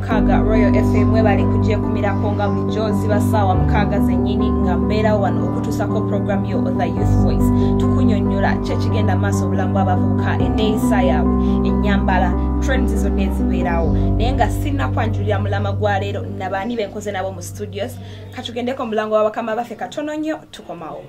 mukaaga royal fm webale kujekumirako nga bulijjo ziba saawa mukaaga zenyini nga mbeerawo wano okutuusako program yo the youth voice tukunyonyola kyekigenda maaso obulamu bwabavubuka eneeyisa yaabwe enyambala trends zonna ezibeerawo naye nga sinakwanjulira mulama gwa leero nabaani benkoze nabo mu studios katugendeko omulango wa bakama baffe katono nnyo tukomawo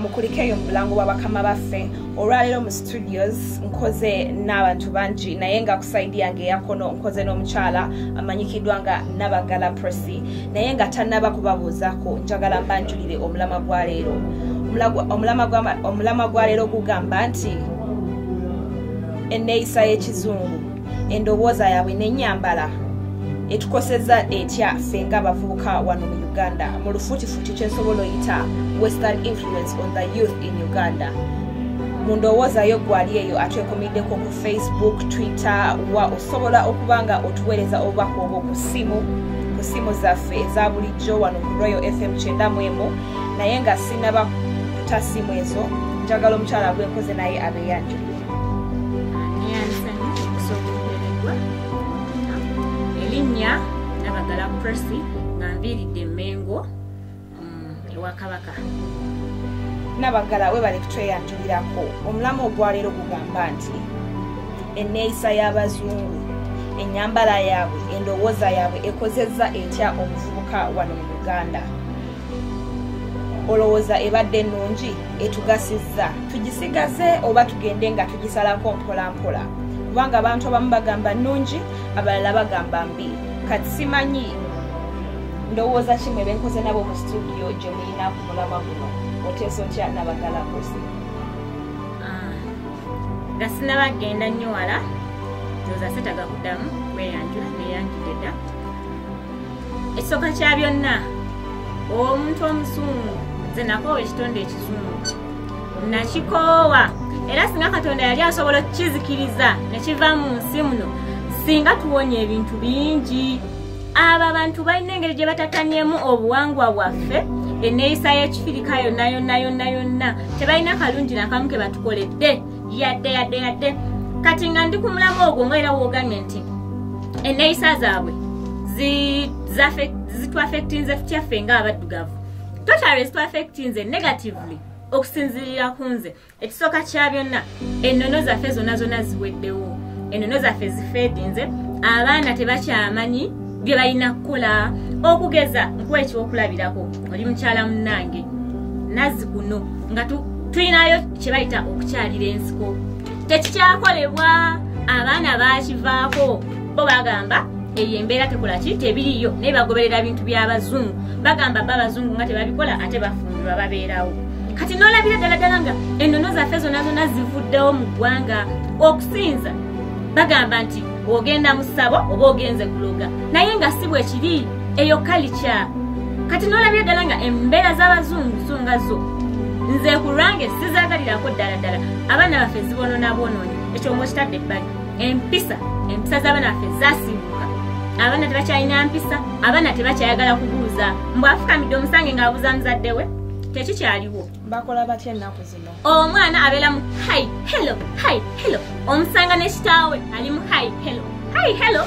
mukulikeyo mu bulango bwa bakama baffe olwaleero mu studios nkoze n'abantu bangi naye nga kusaidi yange eyakono nkoze n'omukyala amanyikiddwa nga nabagala prosi naye nga tanaba kubabuuzako njagala mbanjulire omulama gwa leero omulama gwa leero gugamba nti enneeyisa y'ekizungu endowooza yaabwe n'ennyambala etukoseza etya ffe nga abavubuka wano mu uganda mu lufuutifuuti kyensobola oyita western influence on the youth in uganda mu ndowooza yo gwali eyo atwekomiddeko ku facebook twitter wa osobola okuba nga otuweereza obubaka obwo ku ssimu ku ssimu zaffe eza bulijjo wano ku royal fm kyenda mu emu naye nga sinaba kuta ssimu ezo njagala omukyala gwenkoze naye abeyanjuli elinya nabagala presi nga nviiridde emengo mm, ewa kabaka nabagala webale kutweyanjulirako omulamu ogwaleero gugamba nti eneeyisa y'abazungu enyambala yaabwe endowooza yaabwe ekozezza etya omuvubuka wano mu uganda olowooza ebadde ennungi etugasizza tugisigaze oba tugende nga tugisalako mpolampola kubanga abantu abamu bagamba nnungi abalala bagamba mbi kati simanyi ndowooza kimwe benkoze nabo mu situdiyo gye mulina ku mulama guno oteesa otya nabagala kozi ah, nga sinaba genda nnyo wala ndoza setaga kuddamu kweyanjula neyanjudeda ekisooka kya byonna omuntu omusungu nze nakoowa ekitonde ekizungu nakikoowa era singa katonda yali asobola okukizikiriza nekiva mu nsi muno singa tuwonya ebintu bingi abo abantu balina engeri gye batatanyemu obuwangwa bwaffe eneeyisa y'ekifirika yonna yonna yonna yonna tebalina kalungi nakamu ke batukoledde yadde yadde yadde kati nga ndi ku mulamu ogwo nga era wogambye nti eneyisa zaabwe zitwafectinze tutyaffe nga abaddugavu totale zitwafectinze negatively okusinzirira ku nze ekisooka kya byonna ennono zaffe zonna zonna ziweddewo ennono zaffe zifeedinze abaana tebakyamanyi bye balina kukola okugeza nkuwa ekyokulabirako oli mukyala munnange nazzi kuno nga tulinayo kye bayita okukyalira ensiko tekikyakolebwa abaana bakivaako bo bagamba eyo embeera tekola ki tebiriyo naye bagoberera bintu by'abazungu bagamba ba abazungu nga tebabikola ate bafumbirwa babeerawo kati nolabira ddala ddala nga ennono zaffe zonna zonna zivuddewo mu ggwanga okusinza bagamba nti ogenda mu ssabo oba ogenze kuloga naye nga si bwekiri eyo kalikya kati nolabye ddala nga embeera z'abazungu so nga zo nze ku lwange sizagalirako ddala ddala abaana baffe zibonona bwonoonyi ekyo mwekitadde ebbali empisa empisa z'abaana baffe zasimbuka abaana tebakyalina mpisa abaana tebakyayagala kubuuza mbwafukamidde omusange ng'abuuza muzadde we tekikyaliwo bakola batya ennaku zino omwana abeera mu hi hello hi hello omusanga ne kitaawe ali mu hi hello hi hello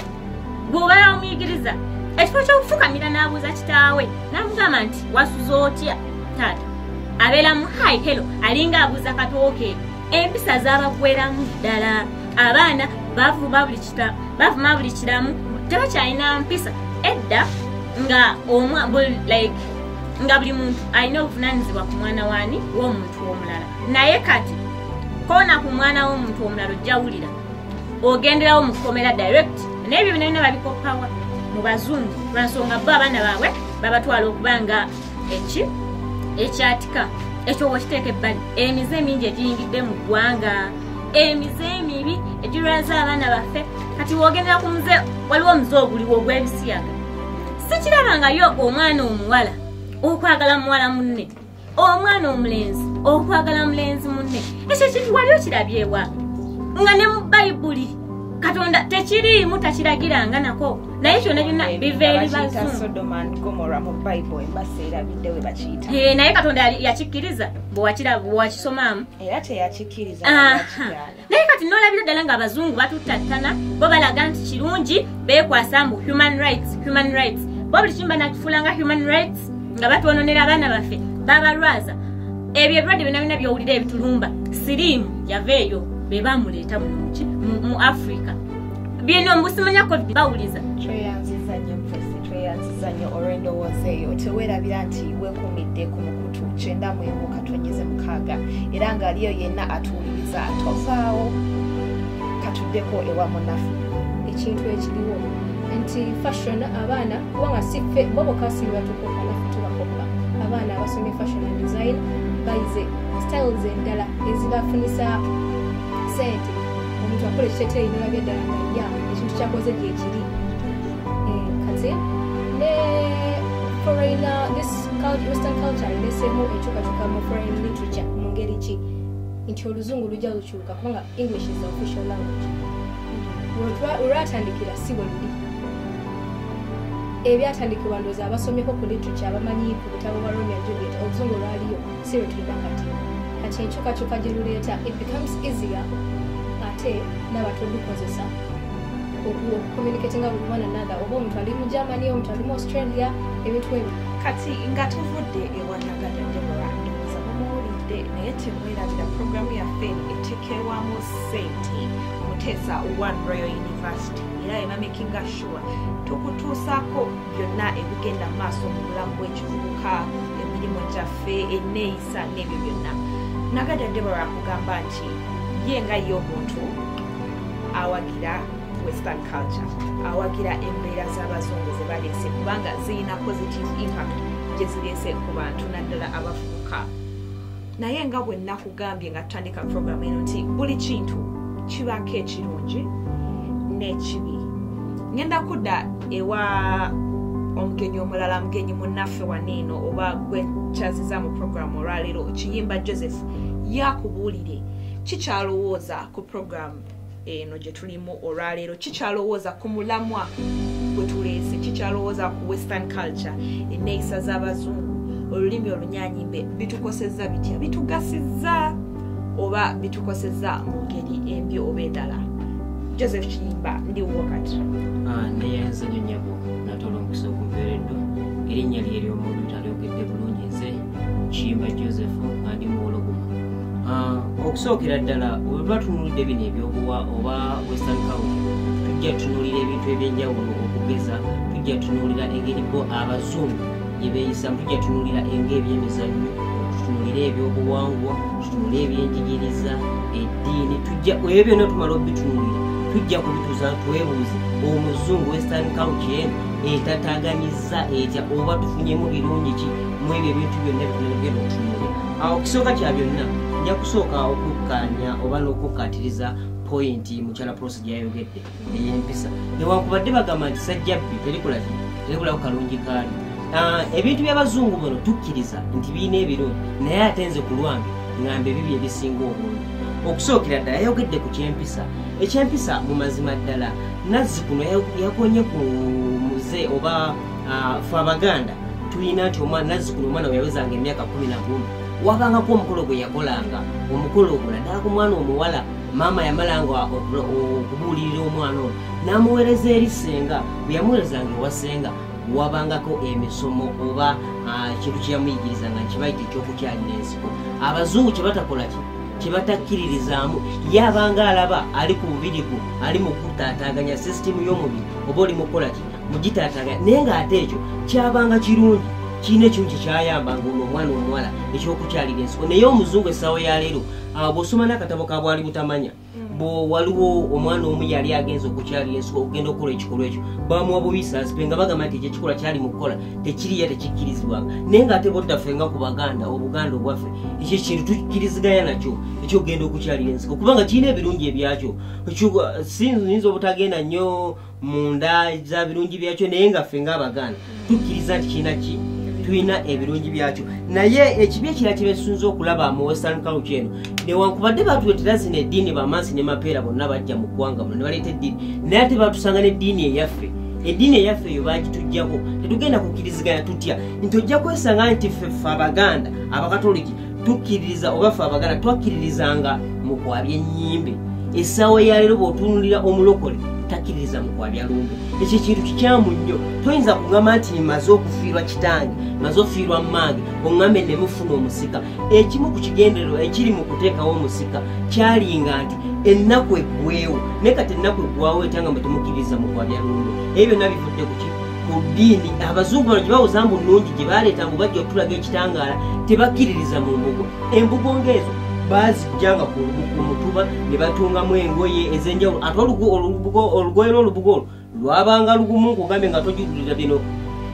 bw'obeera omuyigiriza ekifo ky'okufukamira n'abuuza kitaawe n'amugamba nti wasuza otya taata abeera mu hi hello alinga abuuza katooke empisa z'abagweramu ddala abaana bavuma buli kiramu tebakyalina mpisa edda nga omwa like nga buli muntu alina obuvunanyizibwa ku mwana waani w'omuntu omulala naye kati koona ku mwana w'omuntu omulala ojjawulira ogenderawo mu kkomera direct naye ebyo bina bina babikoppawa mu bazungu lwansonga bo abaana baabwe babatwala okuba nga eki ekyatika ekyo wokiteeka ebbali emize emingi egiyingidde mu ggwanga emize emibi egirwaza abaana baffe kati wogendera ku muze waliwo omuze oguliwo ogw'ebisiyaga sikirabangayo omwana omuwala okwagala muwala munne omwana omulenzi okwagala mulenzi munne ekyo kintu wali okirabyewa nga ne mu bayibuli katonda tekiriimu takiragiranga nako naye kyona kyona biva eri bazunaye katonda yakikkiriza bwewakisomaamu naye kati nolabira ddala nga abazungu batuttattana bo balaga nti kirungi bekwasa mbu human rights human rights bo buli kimba nakifuula nga human rights nga batwononera abaana baffe babalwaza ebyo ebirwadde byona byona byowulira ebitulumba siriimu yava eyo be bamuleeta muki mu africa bino mbusimanya covid bawuliza tweyanziza nyo olwendowooza eyo tewerabira nti wekumidde ku mukulu basatu kyenda mwemu katonyeze mukaaga era ng'aliyo yenna atuwuliriza tovaawo katuddeko ewa munafu ekintu ekiriwo nti fashion abaana kubanga siffe bo bokasiri batukoka naffe tubakoka abaana abasomye fashion and design bayize styles endala ezibafunisa sente omuntu akola ekiteteeyi nolabya ddala nga ya ekintu kyakoze gyekiri nti oluzungu lujja lukyuka kubanga english is the official language olwatandikira si bweluli ebyatandikibwa ndoozi abasomyeko ku literature abamanyi ku butabo bwa romeo juliet oluzungu lwaliyo si lwetulina kati kati enkyukakyuka gye luleeta it becomes easier ate nabatodukozesa okucommunicatinga with one another oba omuntu ali mu germany omuntu ali mu australia ebintu ebyo kati nga tuvudde ewanagada debora ndowooza mumuwulidde naye temwerabira programu yaffe etekerwamu sente muteesa one royal university era emamikinga sure tukutuusaako byonna ebigenda mu maaso mu bulamu bw'ekivubuka emirimu gyaffe enneeyisa n'ebyo byonna nagada debora akugamba nti ye nga ye omuntu awagira western culture awagira embeera z'abazungu ze baleese kubanga zirina positive impact gye zireese ku bantu naddala abafuuka naye nga bwe nakugambye nga tutandika programu eno nti buli kintu kibaako ekirungi n'ekibi ngenda kudda ewa omugenyi omulala mugenyi munnaffe waniino oba gwekyaziza mu programu olwaleero kiyimba joseph yakubuulire kikyalowooza ku programu eno gye tulimu olwaleero kikyalowooza ku mulamwa gwe tuleese kikyalowooza ku western culture enneeyisa z'abazungu olulimi olunyanyimbe bitukosezza bitya bitugasizza oba bitukosezza mu ngeri embi oba endala joseph kiyimba ndi wuwo kati ah, naye nzanyonyabo natolomukisa okuveereddwa erinnya lyeryomuntu alyogedde bulungi nze kiyimba joseph andi muwologoma ah, okusookera ddala wetuba tunulidde bino ebyobuwa oba western cow tujja tunulira ebintu ebyenjawulo okugeza tujja tunulira engeri bo abazungu gyebeeyisa tujja tunulira enga ebyemizannyo tutunulire ebyobuwangwa tutunulire ebyenjigiriza eddiini tujja ebyo byonna tumala obitunulira tujja kubituza twebuuze omuzungu western council etataganyiza sa etya oba tufunyemu birungi ki mwebyo ebintu byonna bitunaligenda okutunula awo kisooka kya byonna nja kusooka okukkanya oba n'okukkaatiriza pointi mukyala prosi gyayogedde eyempisa newankubadde bagamba nti sajjabbi terikulaki terikulaku kalungi kaali ah, ebintu by'abazungu bano tukkiriza nti birina ebirungi naye ate nze ku lwange ngamba ebibyo ebisinga obungi okusookera ddala yayogedde ku kyempisa ekyempisa mu mazima ddala nazzikuno yakonye ku muze oba fe abaganda tulina nti omwana nazzikuno omwana weyawezanga emyaka kumi na gumu wabangako omukolo gwe yakolanga omukolo ogwo naddala ku mwana omuwala maama yamalanga okubuulirira omwana ono n'amuweereza eri senga bwe yamuweerezanga ewa senga wabangako emisomo oba ekintu kyeyamuyigirizanga nkibayita ekyokukyalira ensiko abazungu kyebatakolaky kyebatakkiririzaamu ye abanga alaba ali ku bubirigu ali mu kutaataaganya sisitimu y'omubiri oba oli mu kukola ki mugitaataaganya naye ng'ate ekyo kyabanga kirungi kirina ekimu kye kyayamba ngaono omwana omuwala ekyokukyalira ensiko naye omuzungu essaawo ya leero ah, bw'osoma n'akatabo ka bwali butamanya mm. bwewaliwo omwana omu yali agenza okukyalira ensiko okugenda okukola ekikolwa ekyo bamuwa buyisa azipe nga bagamba nti ekyo ekikolwa kyali mu kukola tekiriya tekikkirizibwanga naye nga ate bottaffe nga ku baganda obuganda obwaffe ekyo ekintu tukkiriziganya nakyo ekyogenda okukyalira ensiko kubanga kirina ebirungi ebyakyo siyinza obutagenda nnyo mu nda za birungi byakyo naye nga ffe nga abaganda tukkiriza nti kirina ki tulina ebirungi byakyo naye ekibi ekira kibesunza okulaba mu western culture eno newankubadde batuletera zino eddiini bamansi ne mapeera bonna bajja mu ggwanga muno ne baleeta eddiini naye ate batusanga n'eddiini eyaffe eddiini eyaffe eyo baagituggyako tetugenda kukkiriziganya tutya nti ojja kwesanga nti ffeffe abaganda abakatoliki tukkiririza oba ffe abaganda twakkiririzanga mu kwabya ennyimbe essaawa eyaleero bw'otuunulira omulokole takkiririza mu kwabya lumbe ekyo ekintu kikyamu nnyo toyinza kugamba nti maze okufiirwa kitange maze ofiirwa mmange oŋŋambe ne mufuna omusika ekimu ku kigendererwa ekiri mu kuteekawo omusika kyalinga nti ennaku eggweewo naye kati ennaku eggwawo etya nga mwe temukkiriza mu kwa byalumbe ebyo byonna bivudde ku kiki ku ddiini abazungu bano gye bawoza mbu nnungi gye baleeta mbu bajja okutulaga ekitangaala tebakkiririza mu mbugo embugo ng'ezo bazijjanga ku mutuba ne batungamu engoye ez'enjawulo ate olugoye lw'olubugo olwo lwabanga lugumu nkugambye nga tojugulira bino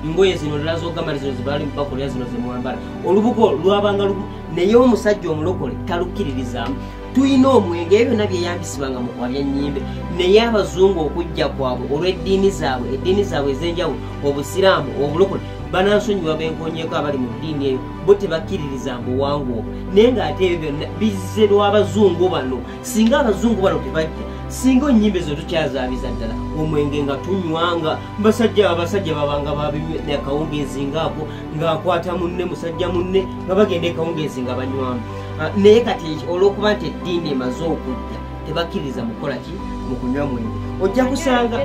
ngoye zino lilazogamba lizino zibali mubakolera zino zemwambala olubugo lwabanga lugumu naye omusajja omulokole talukkiririzamu tulina omwenge ebyo byonna byeyambisibwanga mu kwa byannyimbe naye abazungu okujja kwabwe olw'eddiini zaabwe eddiini zaabwe ez'enjawulo obusiraamu obulokole banansonyiwa benkonyeko abali mu ddiini eyo bo tebakkiririza mbuwangu obwo naye ng'ate ebyo byonna bizze lw'abazungu bano singa abazungu bano tebajja singa onyimba ezo tukyazabiza ddala omwenge nga tunywanga basajja abasajja babanga babimya akawungeezi ngaako ngaakwata munne musajja munne nga bagenda ekawungeezi nga banywamu ah, naye kati olwokuba nti eddiini emaze okujja tebakkiriza mukukola ki mu kunywa mwenge ojja kusanga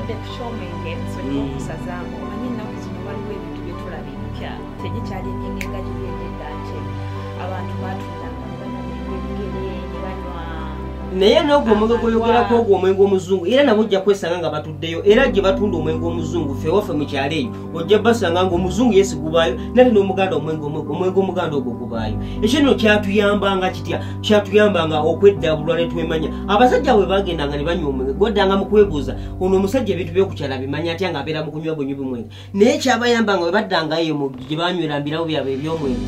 tegikyali enyenge nga giri enyenda nti abantu batundanga nebigere nebanywa naye nogwo omwenge gwoyogerako ogwo omwenge omuzungu era nabo ojja kwesanga nga batuddeyo era gye batunda omwenge omuzungu fewaffe mu kyalo eyo ojja basanga nga omuzungu yesi gubaayo nate n'omuganda omwenge omuganda ogwo gubaayo ekyo nno kyatuyambanga kitya kyatuyambanga okweddabulwa ne twemanya abasajja bwe bagendanga ne banywa omwenge gwaddanga mu kwebuuza ono omusajja ebintu byokukyala bimanya atya nga abeera mu kunywa bwenywi bumwenge naye kyabayamba nga webaddangayo mu gye banywera mbirawo byabwe ebyomwero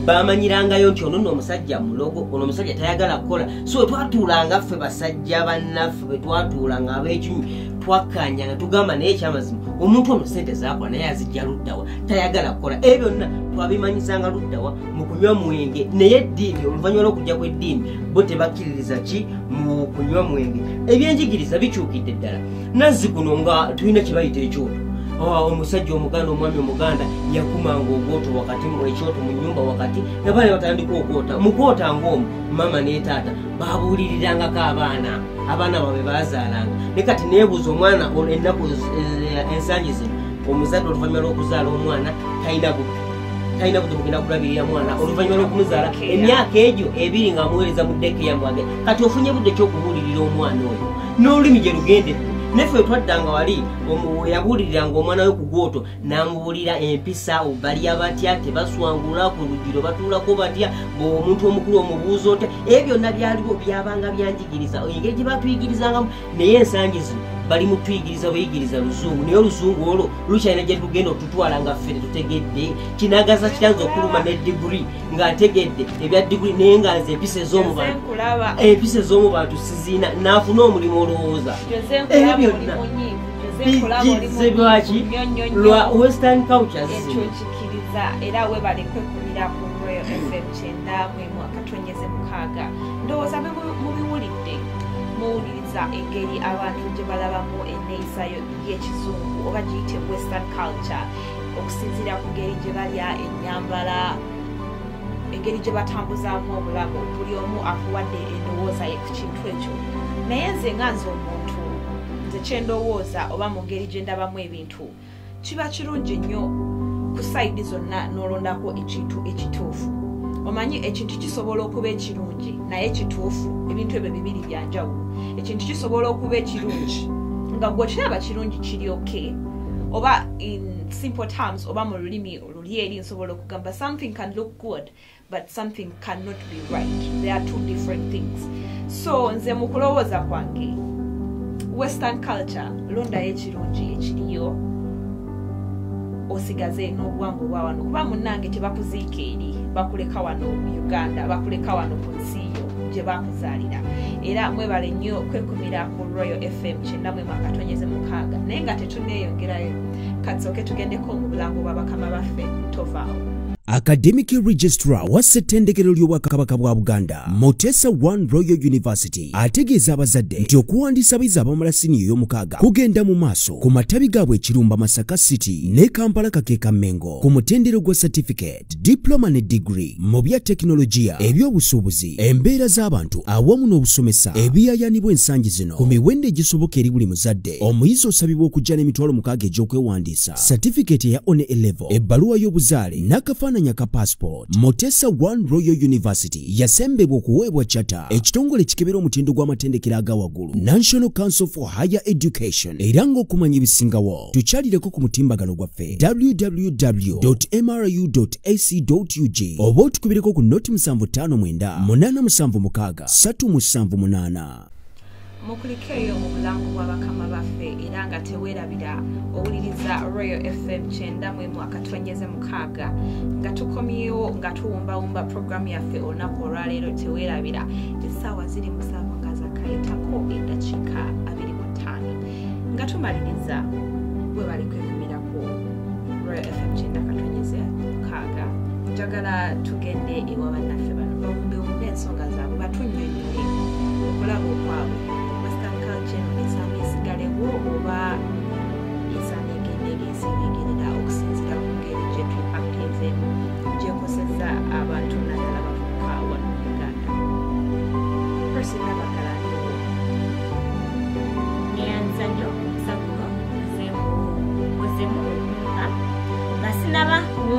bamanyirangayo nti ono no omusajja mulogo ono omusajja tayagala kukola so wetwatuulanga ffe basajja bannaffe bwetwatuulanga abekinywi twakkanya nga tugamba naye ekyamazima omuntu ono sente zakola naye azijja luddawa tayagala kukola ebyo byonna twabimanyisanga luddawa mu kunywa mwenge naye eddiini oluvannyuma lwokujja kw'eddiini bo tebakkiririza ki mu kunywa mwenge ebyenjigiriza bikyukidde ddala nazzi kuno nga tulina kyebayita ekyoto ah, omusajja omuganda omwami omuganda yakumanga ogwoto wakati ekyoto mu nyumba wakati nabaana batandika ogwota mugwota ngaomu maama netaata babuulirirangako abaana abaana babe bazaalanga ne kati nebuuza omwana ennaku eh, ensangi zino omuzadde oluvanyuma lwokuzaala omwana talina bubbi talina kuja kugenda kulabirira mwana oluvanyuma lwokumuzaala emyaka egyo ebiri nga amuweereza mu ddeeke yamwage kati ofunye budde kyokubuulirira omwana oyo n'olulimi gye lugende naffe wetwaddanga wali weyabuulirira nga omwana we ku gwoto n'amubuulira empisa balya batya tebaswangula ku lugiro batuulako batya omuntu omukulu omubuuza otya ebyo byonna byaliwo byabanga byanjigiriza engeri gye batuyigirizangamu naye ensangi zino bali mutuyigiriza buyigiriza luzungu naye oluzungu olwo lukyalina gye lugenda otutwala nga ffe tetutegedde kinagaza kitanza okuluma ne digiri nga ntegedde ebya diguli naye nga nze empisa ez'omu bantu empisa ez'omu bantu siziina naafuna omulimu olowooza ebyo byonna bijjizze lwaki lwa western culture zino era webale kwekumira ku royal fm kyenda mwemu akatonyeze mukaaga ndowooza mubiwulidde muwuliriza engeri abantu gye balabamu enneeyisa y'ekizungu oba giyite western culture okusinziira ku ngeri gye balya ennyambala engeri gye batambuzaamu obulamu buli omu akuwadde endowooza ye ku kintu ekyo naye nze nga nze omuntu nze kyendowooza oba mu ngeri gye ndabamu ebintu kiba kirungi nnyo ku sayidi zonna n'olondako ekintu ekituufu omanyi ekintu kisobola okuba ekirungi naye kituufu ebintu ebyo bibiri byanjawulo ekintu kisobola okuba ekirungi nga gwekiraba kirungi kiri oke okay. oba in simple terms oba mu lulimi oluli eri nsobola okugamba something can look good but something cannot be right there are two different things so nze mu kulowooza kwange western culture londayo ekirungi ekiriyo osigaze n'obuwangwa obwa wano kuba munnange tebakuziika eri bakuleka wano mu uganda bakuleka wano ku nsi yo gye bakuzaalira era mwebale nnyo kwekumira ku royal fm kyenna katonyeze mukaaga naye nga tetuneeyongerayo katsooke tugendeko mu bulango bwa bakama baffe tovaawo academic registrar wa ssettendekero ly'obwakabaka bwa buganda mutesa one royal university ategeeza abazadde nti okuwandiisa abayizi abamala siniya ey'omukaaga kugenda mu maaso ku matabi gaabwe ekirumba masaka city ne kampala kakeeka mengo ku mutendero gwa certificate certificate diploma ne digiri mu bya tekinologiya eby'obusuubuzi embeera z'abantu awamu n'obusomesa ebiyayanibwa ensangi zino ku miwendo egisoboka eri buli muzadde omuyizi osabibwa okujja n'emitwalo mukaaga egy'okwewandiisa certificate eya one elevo ebbaluwa y'obuzaale n'akafaananyi aka passport mutesa one royal university yasembebwa okuweebwa chata ekitongole kikebera omutindo gw'amatendekero aga waggulu national council for higher education era ng'okumanya ebisingawo tukyalireko ku mutimbagano gwaffe www mru ac ug oba otukubireko ku noti 758 mukulikeeyo mu bulamu bwa bakama baffe era nga teweerabira owuliriza royal fm kyenda mu emu akatonyeze mukaaga nga tukomyewo nga tuwumbawumba puroguramu yaffe olunaku olwaleero teweerabira essaawa ziri musanvu nga zakayitako eddakiika abiri mu ttaano nga tumaliriza webali kwekumirako royal fm kyenda katonyeze mukaaga njagala tugende ewa bannaffe bano bawumbewumbe ensonga zaabwe batunyonyoe okulaba okwabwe western culture eno esanga esigalewo oba esanga egendege esingegerera okusinzira ku ngeri gyetupakezeemu gyekoseza abantu nadala bavuka wano mu uganda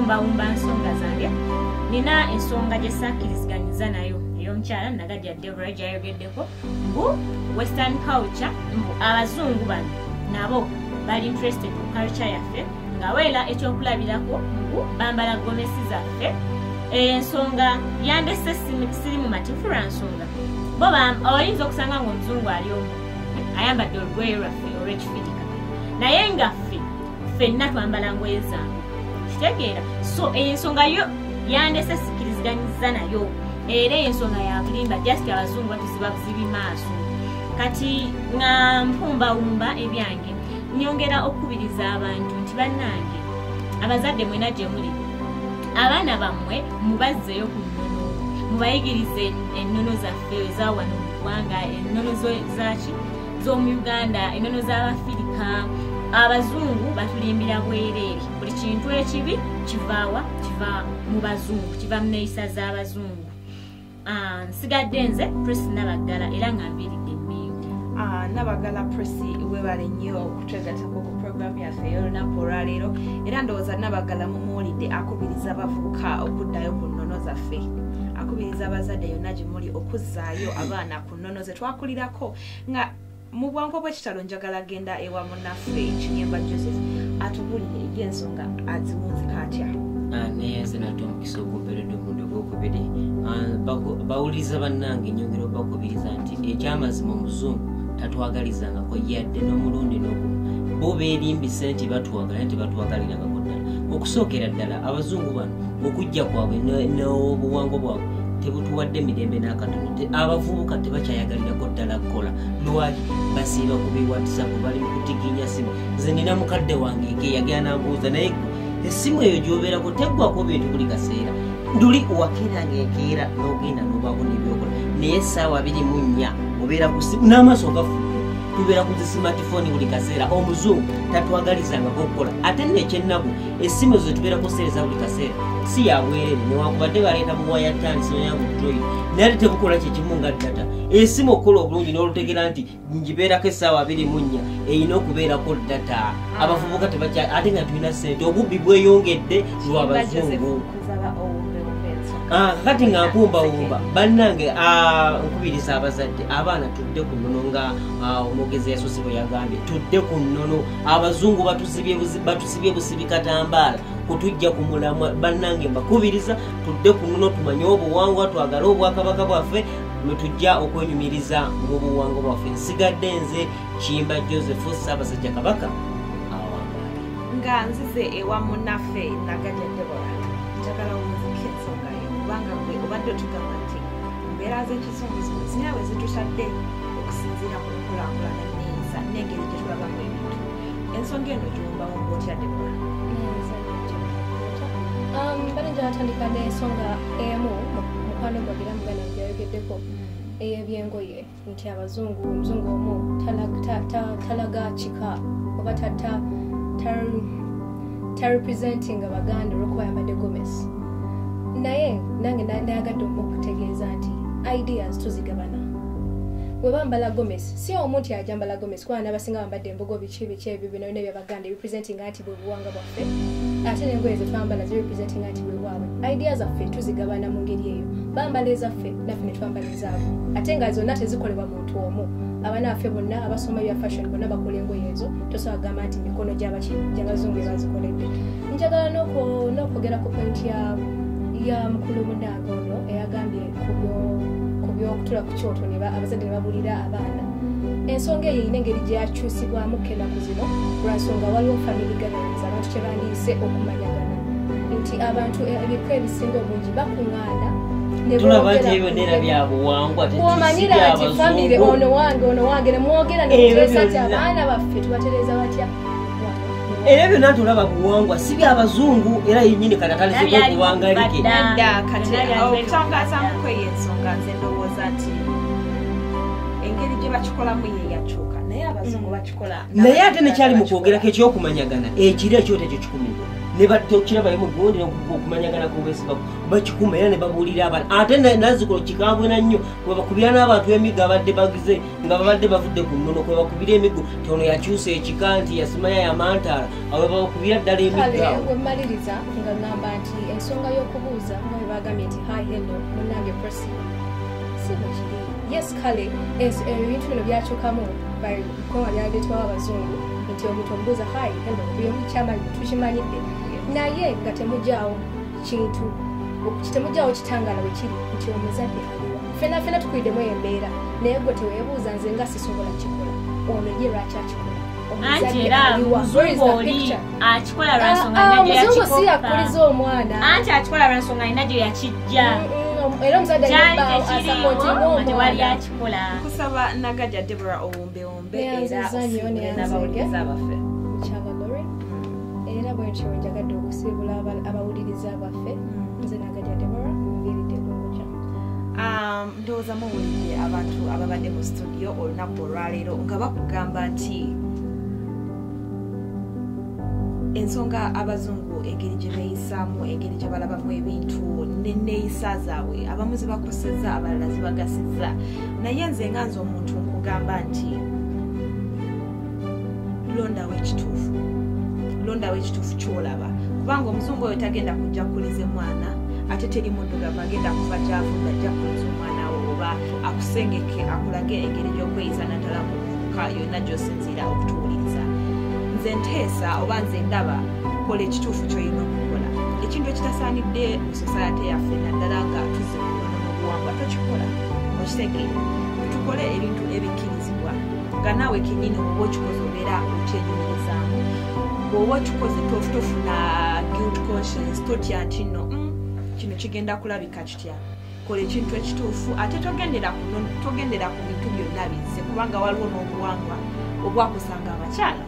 bawumba nsonga zange nina ensonga gyesakiriziganyiza nayo eyomukyala nagajja debra gyayogeddeko mbu western culture mbu abazungu bano nabo bali interested mu culture yaffe nga weera ekyokulabirako mbu bambala gomesi zaffe ensonga yandese siri mumativu lwansonga bo oyinza okusanga ngaomuzungu ali omu ayambadde olugoye lwaffe olwekifirika naye nga ffe ffenna twambala ngoye zange kitegeera so eyo ensonga yo yandese sikiriziganyiza nayo era eyo ensonga yabulimba just abazungu batuziba buzibi maaso kati nga mpumbawumba ebyange nyongera okukubiriza abantu nti bannange abazadde mwena gye muli abaana bammwe mubazzeyo ku nnono mubayigirize ennono zaffe eza wano mu ggwanga ennono zaki z'omu uganda ennono z'abafirika abazungu batulimbira bwereere buli kintu ekibi kivaawa kiva mu bazungu kiva mu neeyisa z'abazungu Ah, nsigadde nze pres nabaggala era nga mbiridde mingi ah, nabaggala pres webale nnyo okutwegatako ku program yaffe eyolunaku olwaleero era ndowooza nabaggala mumuwulidde akubiriza abavubuka okuddayo ku nnono zaffe akubiriza abazadde yonna gye muli okuzzaayo abaana ku nnono ze twakulirako nga mu bwangu obwekitalo njagala genda ewa munaffe ekinyemba joseph atubulire ebyensonga aziwunzika atya ah, naye nze nate omukisa ogumperedde omundi ogwokubiri ah, bawuliriza bannange nyongera obakubiriza nti ekyamazima omuzungu tatwagalizangako yadde n'omulundi n'ogu bo beerimbise nti batwagala nti batwagalirangako ddala okusookera ddala abazungu bano okujja kwabwe n'obuwangwa bwabwe tebutuwadde mirembe n'akatono abavubuka tebakyayagalirako ddala kukola lwaki basiiba ku biwatisapu bali mu kutiginya simu nze nina mukadde wange eke yagera nambuuza naye esimu eyo gyobeerako teggwako bintu buli kaseera nduli wakera ngaekeera n'ogenda n'obaako nebyokola naye essaawa biri mu nnya obeera ku simu n'amaaso gafu tubeera ku zi simatifoni buli kaseera omuzungu tatwagalizangako okukola ate nekyennaku essimu ezo zetubeera kuseereza buli kaseera si yabwerere newankubadde baleeta buwaya tani simu ya butroid naye ate tebukola kyekimu nga data esimu okukola obulungi n'olutegera nti ngibeerako essaawa abiri mu nnya erina okubeerako data mm. abavubuka tebakya ate nga tulina sente obubbi bweyongedde lwa bazungu ah, kati nga nkumbawumba bannange ah, nkubiriza abazadde abaana tudde ku nnono nga ah, omwogezi yasose bwe yagambye tudde ku nnono abazungu batuzibye sibye busibi katambaala kutujja ku mulamwa bannange mbakubiriza tudde ku muno tumanye obuwangwa twagale obwakabaka bwaffe lwetujja okwenyumiriza mu buwangwa bwaffe nsigadde nze kimba joseph ssaabasajja kabaka awangaale nga nzize ewa munaffe nagaja debora njagala omuziki ensonga yo kubanga gwe obadde otugamba nti embeera z'ekizunguzungu zinawe zitutadde okusinziira ku nkulakulana neyisa nengeri gyetulabamu ebintu ensonga eno gyombawo ngotya debora um, bali gyatandika nensonga emu mukwano gwagira mugana gyayogeddeko mm. eyebyengoye nti abazungu omuzungu omu talaga kika oba tata tarepresenting abaganda olwokuba yambadde gomes naye nange nayagadde omu okutegeeza nti ideas tuzigabana webambala gomes si omu nti ajambala gomesi kubanga n'abasinga bambadde embugo biki biki ebyo bino bino ebyabaganda ebipresentinga nti bwe buwanga bwaffe ate n'engoye ze twambala zirepresentinga nti bwe bwabwe idea zaffe tuzigabana mu ngeri eyo bambala ezaffe naffe ne twambala ezaabwe ate nga zonna tezikolebwa muntu omu abaana baffe bonna abasoma bya fashion bonna bakola engoye ezo tosobola kugamba nti mikono gyabazungu ebazikoledde njagala n'okwogera ku pointi ya mukulu munaanga ono eyagambye ku byokutula ku kyoto abazadde ne babulira abaana ensonga eyo erina engeri gyakyusibwamu kenaku zino lwansonga waliwo family gatherings abantu kyebandiise okumanyagana nti abantu e, ebikwa ebisinga obungi bakuŋaana omanyira nti famire ono wange ono wange nemwogera nemuteesa ti abaana baffe tubatereza batya era byonna nti olaba buwangwa si byabazungu era yenyini kati atalizeko okuwangalikekyangazamukweyensonga nze ndowooza nti engeri gye bakikolamu yeyakyuka naye abazungu mm. bakikola naye ate nekyali mu kwogerako ekyokumanyagana ekiro ekyoto ekyo kikumibwa ne batokirabayo mu gundi okumanyagana kwobwesiba bakikuma era ne babuulira abana ate nazikulo kikambwe na nnyo kubakubira n'abantu emiga abadde bagize nga babadde bavudde ku nnono kwe bakubira emiggo tono yakyusa ekika nti yasimaya yamantaala awe bakubira ddala emiggowemaliriza nga ŋamba nti ensonga y'okubuuza nga we bagambye nti hi hello munange presi si bwekiri yes kale ebintu bino byakyukamu bikoma byaleetwawo abazungu nti omuntu omubuuza hi hello byomukyama tukimanyidde naye nga temugyawo kintu temujawo kitangala wekiri nti omuzadde aliwa fenafena tukwidemu embeera naye gwe tewebuuza nze nga sisobola kikola ono ye lwaki akikola anti era muzungu oli akikola lwansonga ah, ah, nina gyeyakikoanti akikola lwansonga nina gye yakijja mm, mm, mm. era omuzadde yali akikola kusaba nagaja debora owombewo beyanziza nyo neyanzege mukyabagore mm. era bwentyo njagadde okusiibula abawuliriza baffe mm. nze nagadya debora muviiridde kunguja um, ndowooza muwulidde abantu ababadde mu situdiyo olunaku olwaleero nga bakugamba nti ensonga abazungu engeri gye beeyisaamu engeri gye balabamu ebintu neneeyisa zaabwe abamu zibakoseza abalala zibagasiza naye nze nga nze omuntu nkugamba nti londawo ekituufu londawo ekituufu kyolaba kubanga omuzungu oyo tagenda kujja kukuliza emwana ate teri muddugavu agenda kuva gyavunda ajja kuliza omwana wo oba akusengeke akulage engeri gy'okweyisa naddala mu buvubuka yonna gy'osinziira okutuwuliriza nze nteesa oba nze ndaba kola ekituufu kyolina okukola ekintu ekitasaanidde mu sosayate yaffe naddala nga tuzibuubuwangwa tokikola okitege tukole ebintu ebikkirizibwa nga naawe kenyini oba okikoze obeera okyenyumirizaamu bwoba okikoze tofuna guilt conscience totya nti no mm, kino kigenda kulabika kitya kola ekintu ekituufu ate togendera kuno togendera ku bintu byonna bizze kubanga waliwo n'obuwangwa obwakusanga abakyala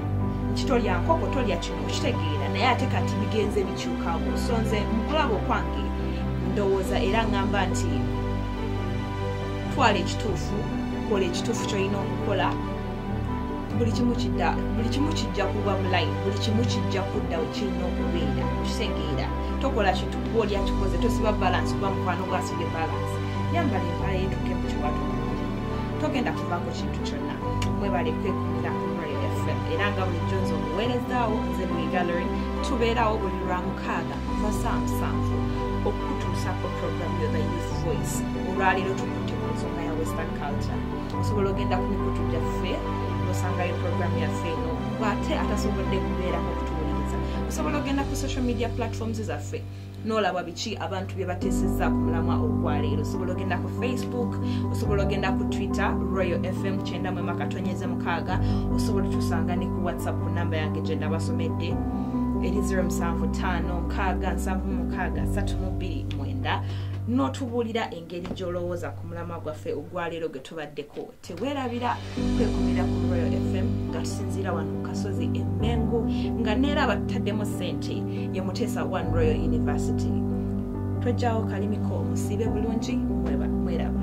nti tolya nkoko tolya kino okitegeera naye ate kati bigenze bi kyukawo so nze mukulaba okwange ndowooza era ngamba nti twala ekituufu kola ekituufu kyolina okukola buli kimu kidda buli kimu kijja kuba mulayi buli kimu kijja kudda wekirina okubeera kitegeera tokola kintu kuba oli akikoze tosiba balansi kuba mukwano gwasibye balansi yambala empala yetuke mu kiwatu togenda kuvaako kintu kyonna mwebale kwekumira ku royal fm era nga bulijjo nze omuweerezaawo nze lwe gallery tubeerawo buli lwa mukaaga kuva saa musanvu okutuusa ku program yo the youth voice olwaleero tukutte ku nsonga ya western culture osobola ogenda ku mikutu gyaffe osangayo program yaffe eno ate atasobodde kubeerako okutuwuliriza osobola ogenda ku social media platforms zaffe nolaba biki abantu bye bateesezza ku mulamwa ogwaleero osobola ogenda ku facebook osobola ogenda ku twitter royal fm kyenda mwema katonyeze mukaaga osobola otusanga ne ku whatsapp ku namba yange gye ndabasomedde eri 0 musanvu taano nkaaga nsanvu mukaaga satu mu bbiri mwenda n'otubuulira engeri gy'olowooza ku mulamwa gwaffe ogwaleero gwe tubaddeko tewerabira kwekumira ku royal fm nga tusinziira wano ku kasozi emengu nga neera abataddemu sente ye muteesa one royal university twejjawo kalimiko musiibe bulungi mweraba